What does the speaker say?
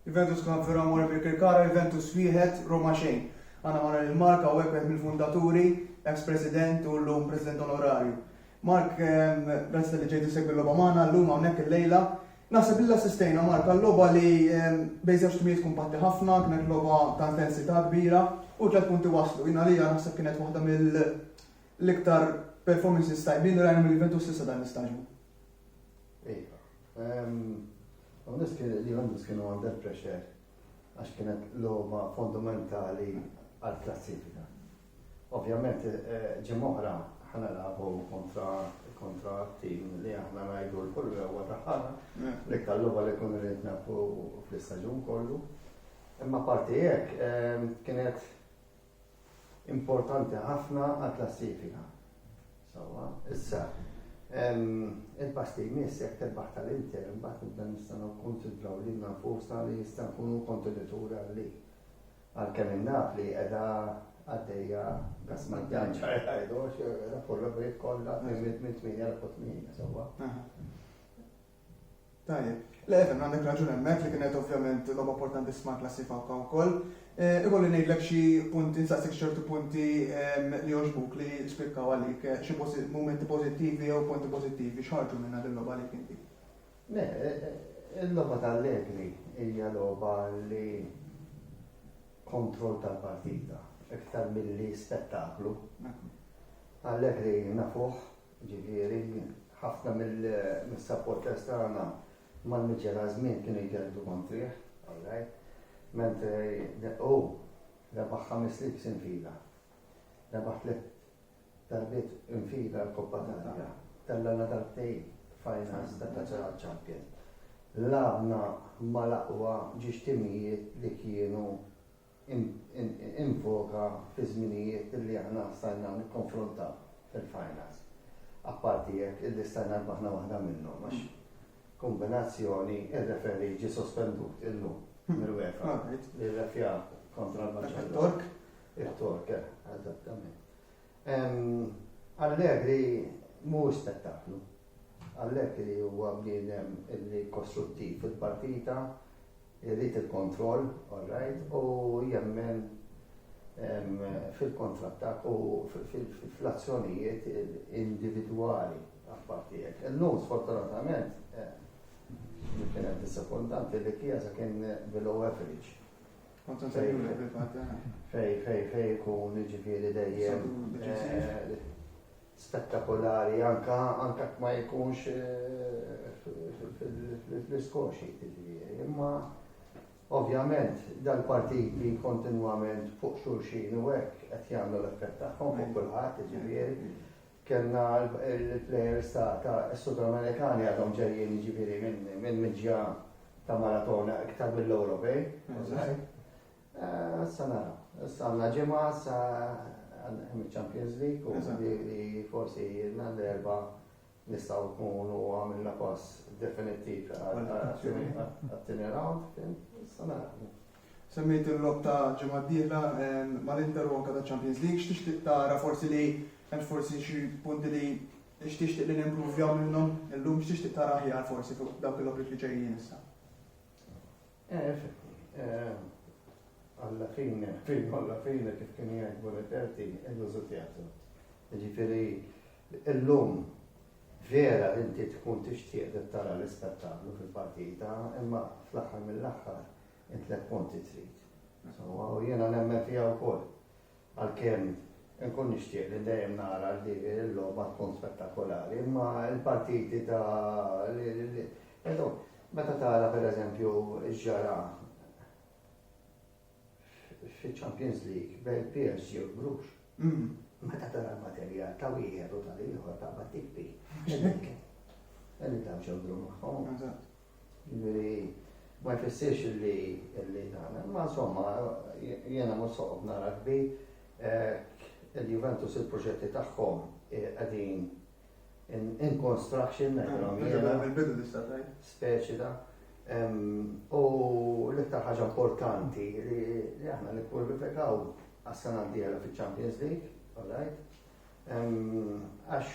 Juventus Club veru amore per Kirkara, Juventus wieħed, Roma xejn. Għandna magħna lil Mark hawnhekk wieħed mill-fundaturi, ex President u llum President Onorarju. Mark, grazzi talli ġejt issegwi l-logħba magħna llum hawnhekk illejla. Naħseb li assistejna Mark għal logħba li bejn żewġ timijiet kumpatti ħafna, kienet logħba ta' intensità kbira u tliet punti waslu. Jien għalija naħseb kienet waħda mill-iktar performances tajbin li rajna mill-Juventus s'issa dan l-istaġun. Iva. Għamnis kien li għamnis kienu under pressure għax kienet l-logħba fondamentali għal-klassifika. Ovvjament eh, ġimoħra ħana labu kontra kontra tim li aħna najdu l-kull għawa taħħana mm. li kalluba li kun rrit nafu fl-istagġun kollu. Imma parti jek kienet Importanti ħafna għall-klassifika. Sewwa, issa il-pass li jmiss jekk tirbaħ tal-Inter imbagħad nibda nistgħu kkunsidraw lilna nfusna li jista' nkunu kontenituri għalli. Għalkemm in-Napli qiegħda għaddejja gas maddan ċar ħajdu għax kollha bejt kollha minn 8 l-8 sewwa. Tajjeb. Le, efhem, għandek raġun hemmhekk li kienet ovvjament logħba importantissima għall-klassi Fawka wkoll. Ikolli ngħidlek xi punti, nsaqsik xi ċertu punti li jogħġbuk li spikkaw għalik, xi mumenti pożittivi jew punti pożittivi, x'ħarġu minnha dil-logħba għalik inti? Le, il-logħba tal-Allegri hija logħba li kontroll tal-partita iktar milli spettaklu. Allegri nafuh Jiġifieri, ħafna mis-supporters tagħna mal-miġjara żmien kienu jgergdu kontrih, all right, mentri hu rebaħ ħames ligs infila. Rebaħ tliet darbiet infila l-Koppa tal-Arja. Tellana darbtejn finals ta' Kaċċara Champion. Labna mal-aqwa ġiex timijiet li kienu in voga fiż-żminijiet li aħna stajna nikkonfrontaw fil-finals. Apparti jekk illi stajna rbaħna waħda minnhom għax kombinazzjoni ir-referi ġie sospendut illum mill-UEFA li rrefja kontra l-Tork. Il-Tork, eżattament. Allegri mhuwiex spettaklu. Allegri huwa bniedem li kostruttiv fil-partita, irid il-kontroll, all right, u jemmen fil-kontrattakk u fl-azzjonijiet individwali apparti hekk. Illum sfortunatament kien hemm disappuntanti li Chiesa kien below average. Fej, fej, fej ikun ġifiri dejjem eh, spettakolari anka anka ma jkunx eh, fl-iskoxi ġifiri. Imma ovvjament dal-partiti kontinwament fuq xulxin u hekk qed jagħmlu l-effett tagħhom fuq kulħadd ġifiri. Kellna l-plejers ta' s-Sud Amerikani għadhom ġejjin jiġifieri minn miġja ta' maratona iktar mill-Ewropej. Issa nara, issa għandna ġimgħa issa għandna Champions League u li forsi għandna l-erba' nistgħu nkunu għamilna pass definittiv għat-tieni round. Issa nara. Semmejt il-logħob ta' ġimgħa d-dieħla mal-Inter u anke taċ-Champions League. X'tixtieq tara forsi li hemm forsi xi punti li x'tixtieq li nimpruvjaw minnhom illum? X'tixtieq tara aħjar forsi fuq dawk il-logħbiet li ġejjin issa? Alla fine, fine alla fine kif kien jgħid Bonifatti, il-lużu teatru. Ġifieri illum vera li inti tkun tixtieq li tara l-ispettaklu fil-partita, imma fl-aħħar mill-aħħar in tliet punti trid. Insomma, u jiena nemmen fiha wkoll. Għalkemm nkun nixtieq li dejjem nara li l-logħba tkun spettakolari, imma l-partiti ta' meta tara pereżempju ġara fil-Champions League bejn PSG u Bruges. Mm. Meta tara l-materjal ta' wieħed u tal-ieħor ta' battikpi. Għalli ta' ġodru maħħom. Jiġifieri ma jfissirx li li dan, imma insomma jiena mhux soqgħod nara kbi eh, il-Juventus il-proġetti tagħhom eh, qegħdin in construction ngħidilhom jiena. Speċi da. U l-iktar ħaġa importanti li aħna nikkwalifikaw għas-sena d-dieħla fiċ-Champions League, all right? Għax